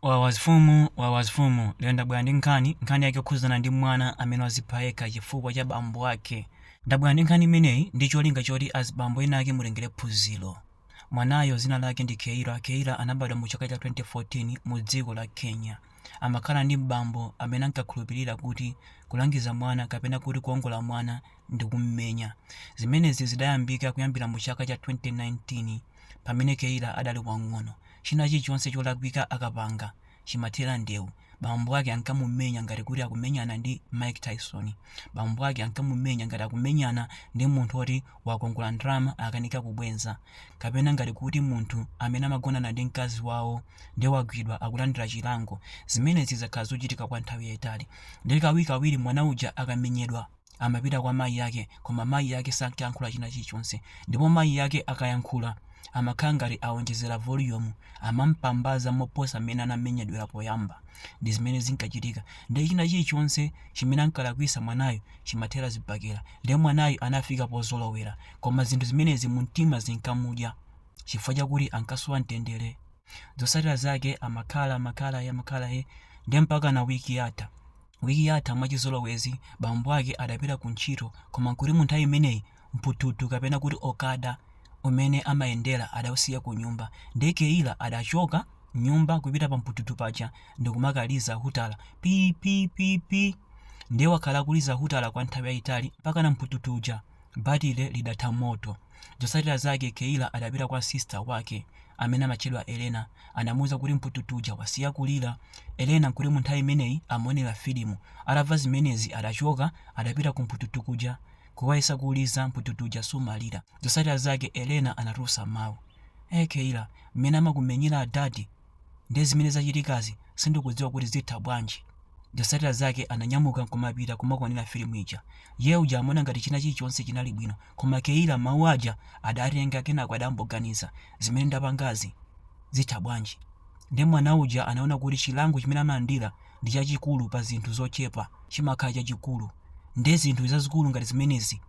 Wawa zimfumu wawa zimfumu lero ndabwera ndi nkhani, nkhani yake yokhudzana ndi mwana amene wazipha yekha chifukwa cha bambo ake. Ndabwera ndi nkhani imeneyi ndi cholinga choti azibambo ena ake mutengere phunziro. Mwanayo dzina lake ndi Keila. Keila anabadwa mu chaka cha 2014 mu dziko la Kenya. Amakhala ndi bambo amene ankakhulupirira kuti kulangiza mwana kapena kuti kuongola mwana ndi kummenya. Zimenezi zidayambika kuyambira mu chaka cha 2019. pamene Keila adali wang'ono. China chilichonse cholakwika akapanga, chimathera ndewu. Bambo ake ankamumenya ngati kuti akumenyana ndi Mike Tyson. Bambo ake ankamumenya ngati akumenyana ndi munthu woti wakongola ndalama akanika kubwenza. Kapena ngati kuti munthu amene amagonana ndi mkazi wawo nde wagwidwa akulandira chilango. Zimenezi zakhala zochitika kwa nthawi yaitali. Nde kawirikawiri mwana uja akamenyedwa. amapita kwa mayi ake koma mayi ake sankayankhula china chilichonse ndipo mayi ake akayankhula amakhala ngati awonjezera volume amampambaza moposa mmene anamenyedwera poyamba ndi zimene zinkachitika ndiye china chilichonse chimene ankalakwisa mwanayo chimathera zibakera ndiye mwanayo anafika pozolowera koma zinthu zimenezi mumtima zinkamudya chifukwa chakuti ankasowa mtendere zotsatira zake amakhala amakhala amakhala ndiye mpaka na wiki yatha Wiki yatha mwachizolowezi bambo ake adapita ku ntchito koma nkuti munthawi imeneyi mphuthuthu kapena kuti okada umene amayendera adausiya kunyumba ndiye Keila adachoka mnyumba kupita pa mphuthuthu paja ndikumakaliza hutala pii pii pii pii ndiye wakhala akuliza hutala kwa nthawi yaitali mpakana mphuthuthu uja batile lidatha moto Zotsatira zake Keila adapita kwa sister wake amene amatchedwa Elena anamuuza kuti mphuthuthu uja wasiya kulira. Elena nkuti munthawi imeneyi amaonera filimu. Atamva zimenezi adachoka adapita ku mphuthuthu kuja kukayesa kuuliza mphuthuthu uja sumalira. Zotsatira zake Elena anatulutsa mawu. Eeh Keila, mmene amakumenyera adadi? Ndiye zimene zachitikazi sindikudziwa kuti zitha bwanji. Zotsatira zake ananyamuka nkumapita kumakaonera filimu ija. Iye uja amaona ngati china chilichonse chinali bwino. Koma Keila mawu aja adatenga kenako adangoganiza, zimene ndapangazi zitha bwanji? Ndiye mwana uja anaona kuti chilango chimene amalandira ndi chachikulu pa zinthu zochepa chimakhala chachikulu nde zinthu zazikulu ngati zimenezi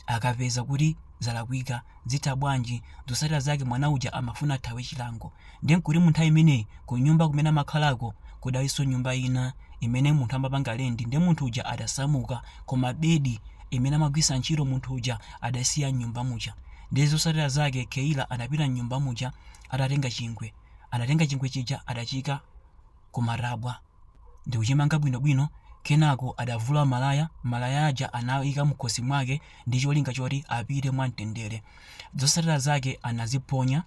akapeza kuti zalakwika zitha bwanji zotsatira zake mwana uja amafuna athawe chilango nde nkuti munthawi imeneyi kunyumba kumene amakhalako kudalinso nyumba ina imene munthu amapanga lendi nde munthu uja adasamuka koma bedi imene amagwisa ntchito munthu uja adaisiya mnyumba muja nde zotsatira zake keila anapita mnyumba muja atatenga chingwe anatenga chingwe chija adachika kumatabwa ndi kuchimanga bwinobwino. Kenako adavula malaya, malaya aja anaika mkhosi mwake ndi cholinga choti apite mwamtendere. Zotsatira zake anaziponya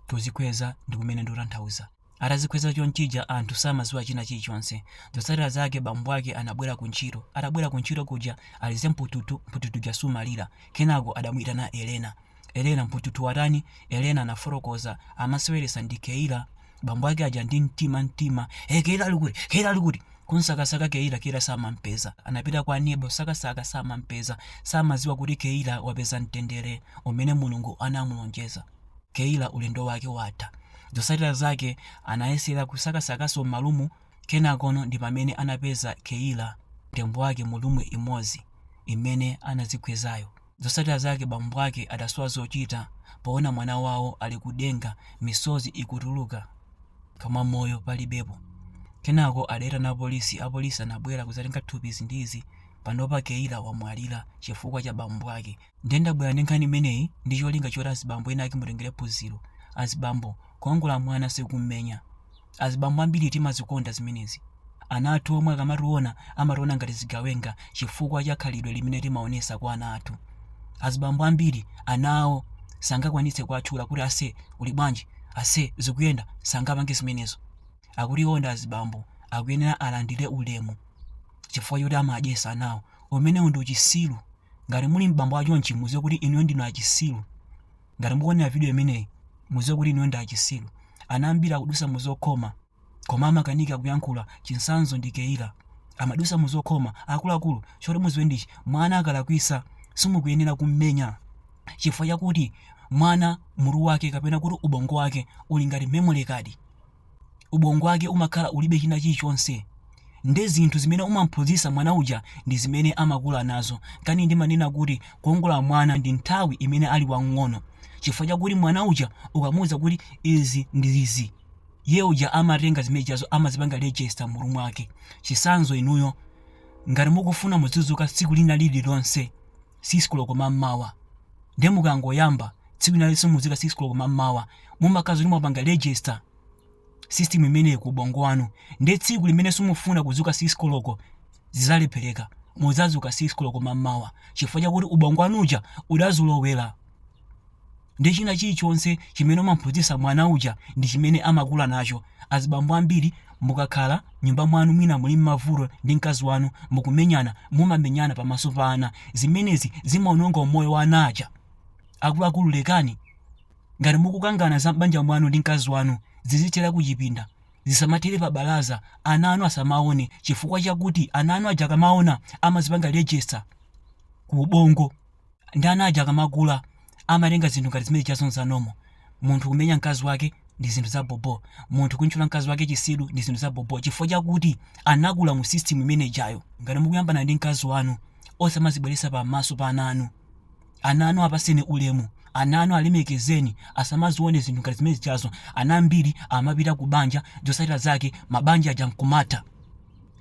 pozikhweza ndi kumene ndikutanthauza. Atazikhweza chonchija anthu samadziwa china chilichonse. Zotsatira zake bambo ake anabwera kuntchito. Atabwera kuntchito kuja alize mpututu, mpututu uja sumalira. Kenako adamuitana Elena. Elena, Mpututu watani? Elena anafotokoza, Amaseweretsa ndi Keila, bambo ake aja ndi mtima mtima. Hey, Keila ali kuti? Keila ali kuti? Kumsakasaka Keila, Keila samampeza. Anapita kwa aneba kusakasaka, samampeza. Samadziwa kuti Keila wapeza mtendere umene Mulungu anamulonjeza. Keila ulendo wake watha. Zotsatira zake anayesera kusakasakanso m'ma room, kenakono ndi pamene anapeza Keila, mtembo wake mu room imodzi imene anadzikhwezayo. Zotsatira zake bambo ake adasowa zochita poona mwana wawo ali kudenga misozi ikutuluka koma moyo palibepo. Kenako adaitana apolisi, apolisi anabwera kudzatenga thupi izi ndi izi, panopa Keila wamwalira chifukwa cha bambo ake. Ndiye ndabwera ndi nkhani imeneyi ndi cholinga choti azibambo ena ake mutengere phunziro. Azibambo, kuongola mwana si kummenya. Azibambo ambiri timazikonda zimenezi. Ana athu omwe akamationa amationa ngati zigawenga chifukwa cha khalidwe limene timaonetsa kwa ana athu. Azibambo ambiri ana awo sangakwanitse kuwatchula kuti ase uli bwanji, ase zikuyenda, sangapange zimenezo. Akuti iwo ndi azibambo akuyenera alandire ulemu chifukwa choti amawadyetsa anawo. Umenewu ndi uchisiru. Ngati muli m'bambo wa chonchi mudziwe kuti inuyo ndinu achisiru. ngati mukuonera video imeneyi muziwe kuti inuyo ndi achisilu ana ambiri akudusa muzokhoma koma amakanika kuyankhula chitsanzo ndi keila amadusa muzokhoma akuluakulu choti muziwe ndichi mwana akalakwisa simukuyenera kummenya chifukwa chakuti mwana mutu wake kapena kuti ubongo wake uli ngati memory card ubongo wake umakhala ulibe china chilichonse nde zinthu zimene umamphunzitsa mwana uja ndi zimene amakula nazo nkana ndimanena kuti kuongola mwana ndi nthawi imene ali wang'ono chifukwa chakuti mwana uja ukamuwuza kuti izi ndi izi iye uja amatenga zimene zijazo amazipanga register m'mutu mwake chitsanzo inuyo ngati mukufuna muzidzuka tsiku lina lililonse 6 koloko mammawa nde mukangoyamba tsiku lina lililonse muzuka 6 koloko mammawa mumakhala zoti mwapanga register system imeneyi ku ubongo wanu nde tsiku limene simufuna kuzuka 6 koloko zizalepheleka muzazuka 6 koloko mammawa chifukwa chakuti ubongo wanu uja udazolowela ndi china chilichonse chimene mumamphunzitsa mwana uja ndi chimene amakula nacho azibambo ambiri mukakhala m'nyumba mwanu mwina muli mmavuto ndi mkazi wanu mukumenyana mumamenyana pamaso pa ana zimenezi zimaononga umoyo wa ana aja akuluakulu lekani ngati mukukangana za m'banja mwanu ndi mkazi wanu zizithera kuchipinda zisamathere pa balaza ana anu asamaone chifukwa chakuti ana anu aja akamaona amazipanga register ku ubongo ndi ana aja akamakula amatenga zinthu ngati zimene jazo nza normal munthu kumenya mkazi wake ndi zinthu za bobo munthu kumutchula mkazi wake chitsiru ndi zinthu za bobo chifukwa chakuti anakula mu system imene ijayo ngati mukuyambana ndi mkazi wanu osamazibweresa pamaso pa ana anu ana anu apaseni ulemu ana anu alemekezeni asamazione zinthu ngati zimene zijazo ana ambiri amapita ku banja zosatira zake mabanja aja nkumatha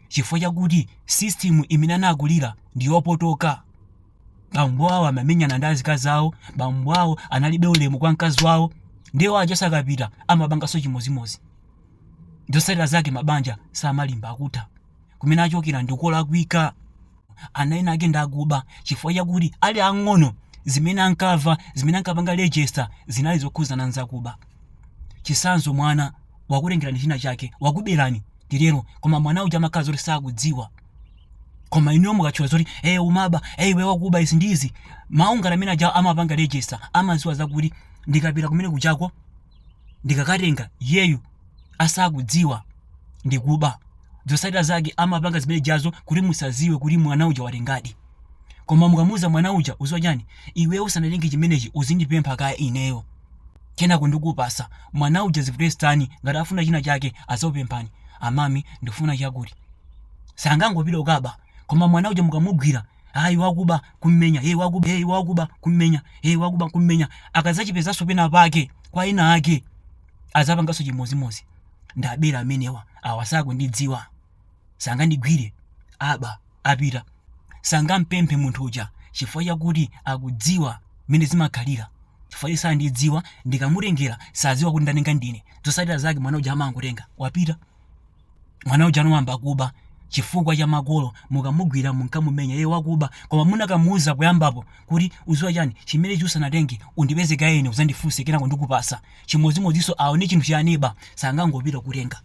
chifukwa chakuti system imene anakulira ndi yopotoka bambo awo amamenyana ndi azikazi awo bambo awo analibe ulemu kwa mkazi wawo ndiwo ajaso akapita amapanganso chimozimozi zotsatira zake mabanja samalimba akutha kumene achokera ndikolakwika ana ena ake ndakuba chifukwa chakuti ali ang'ono zimene ankava zimene ankapanga register zinali zokhuzana nzakuba chisanzo mwana wakutengerani china chake wakuberani titero koma mwana uja amakhala zoti sakudziwa koma inuyo mukatchula zoti e umaba e iwe wakuba izi ndi izi mawu ngati amene aja amapanga register amaziwa zakuti ndikapita kumene kuchako ndikakatenga iyeyu asakudziwa ndikuba zotsatira zake amapanga zimene jazo kuti musaziwe kuti mwana uja watengadi koma mukamuuza mwana uja uziwa chani iwe usanatenge chimenechi uzindipempha kaye ineyo kenako ndikupasa mwana uja zivutestani ngati afuna china chake azakupemphani amami ndifuna chakuti sangangopita kukaba koma mwana uja mukamugwira ayi wakuba kummenya hey, wakuba hey, wakuba kummenya hey, wakuba kummenya akazachipezanso pena pake kwa ena ake azapanganso chimodzimodzi ndabera amenewa awa sakundidziwa sangandigwire waba wapita sangampemphe munthu uja chifukwa chakuti akudziwa mmene zimakhalira chifukwa iye sandidziwa ndikamutengera sadziwa kuti ndatenga ndine zosatira zake mwana uja amangotenga wapita mwana uja anayamba kuba chifukwa cha makolo mukamugwira munkamumenya iye wakuba koma munakamuuza kuyambapo kuti uziwa chani chimenechi usanatenge undipeze kaye ine uzandifunse kenako ndikupasa chimodzimodzinso aone chinthu cha aneba sangangopita kutenga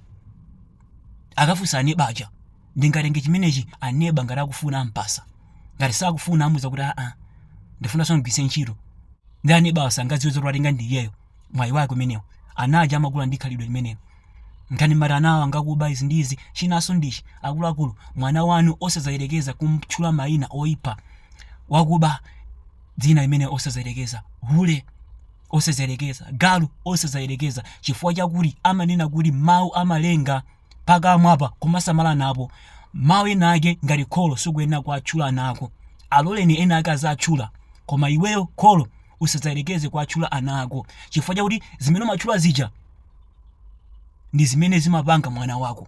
akafunsa aneba aja ndingatenge chimenechi aneba ngati akufuna ampasa ngati sakufuna amuuza kuti aa ndifunaso ndigwise ntchito ndi aneba awo sangadziwe zoti watenga ndi iyeyo mwayi wake umenewo ana aja amakula ndi khalidwe limenelo nkumati ana awo angakuba izi ndi izi chinanso ndichi akuluakulu mwana wanu osazayerekeza kumtchula mayina oyipa wakuba dzina limenelo osazayerekeza hule osazayerekeza galu osazayerekeza chifukwa chakuti amanena kuti mawu amalenga pakamwa apa kumasamala napo mawu ena ake ngati kholo sukuyenera kuwatchula ana ako aloleni ena ake azitchula koma iweyo kholo usadzayerekeze kuwatchula ana ako chifukwa chakuti zimene umatchula zija ndi zimene zimapanga mwana wako